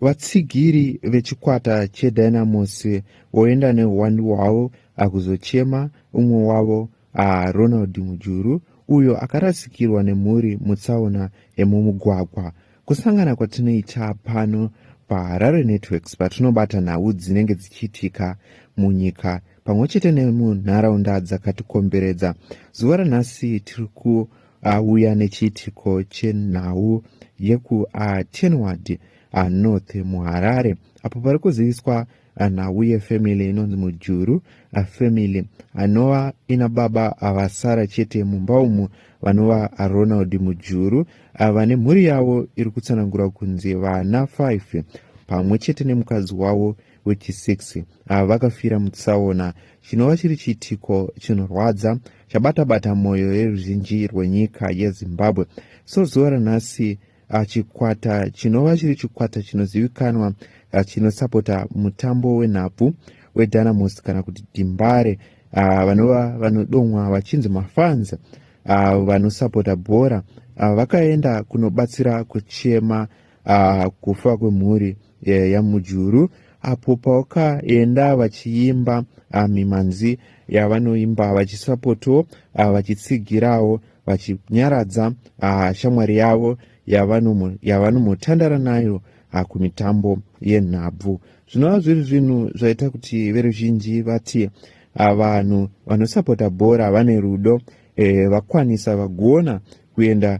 vatsigiri vechikwata chedynamos voenda neuwandu hwavo akuzochema umwe wavo ah, ronald mujuru uyo akarasikirwa nemhuri mutsaona yemumugwagwa kusangana kwatinoita pano paharare networks patinobata nhau dzinenge dzichiitika munyika pamwe chete nemunharaunda dzakatikomberedza zuva ranhasi tiri ku auya nechiitiko chenhau yekuatenward anorth muharare apo pari kuziviswa nhau yefamily inonzi mujuru afamily anova ina baba avasara chete mumba umu vanova ronald mujuru vane mhuri yavo iri kutsanangura kunzi vana 5 pamwe chete nemukadzi wavo wechi6 vakafira mutsaona chinova chiri chiitiko chinorwadza chabata-bata mwoyo yeruzhinji rwenyika yezimbabwe so zuva ranhasi ah, chikwata chinova chiri chikwata chinozivikanwa ah, chinosapota mutambo wenhabvu wedynamos kana kuti dimbare ah, vanova vanodomwa vachinzi mafanzi vanosapota bhora vakaenda kunobatsira kuchema uh, kufa kwemhuri eh, yamujuru apo pawakaenda vachiimba uh, mimhanzi yavanoimba vachisapotawo uh, vachitsigirawo vachinyaradza uh, shamwari yavo yavanomotandara nayo uh, kumitambo yenhabvu zvinova zviri zvinhu zvaita kuti veruzhinji vati uh, vanhu vanosapota bhora vane rudo eh, vakwanisa vagona kuenda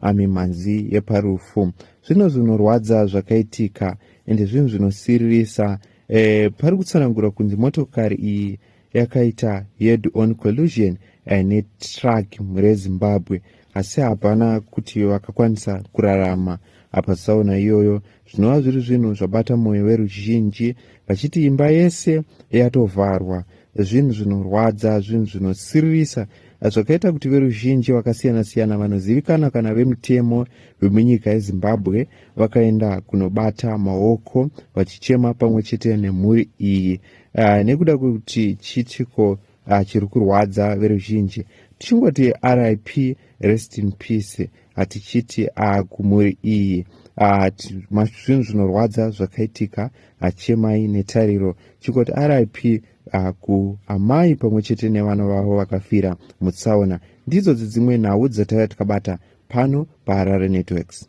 amimhanzi yeparufu zvino zvinorwadza zvakaitika ende zvinhu zvinosiririsa e, pari kutsanangura kunzi motokari iyi yakaita head on collusion eh, netruck rezimbabwe asi hapana kuti vakakwanisa kurarama apa saona iyoyo zvinova zviri zvinhu zvabata mwoyo veruzhinji vachiti imba yese yatovharwa zvinhu zvinorwadza zvinhu zvinosiririsa zvakaita kuti veruzhinji vakasiyana-siyana vanozivikanwa kana vemutemo vemunyika yezimbabwe vakaenda kunobata maoko vachichema pamwe chete nemhuri iyi uh, nekuda kwekuti chiitiko uh, chiri kurwadza veruzhinji tichingoti rip rest in peace hatichiti ah, kumhuri iyi ah, zvinhu zvinorwadza zvakaitika achemai ah, netariro chikoti rip ah, kuamai pamwe chete nevana vavo vakafira mutsaona ndidzo dzidzimwe nhau dzataiva tikabata pano paharare networks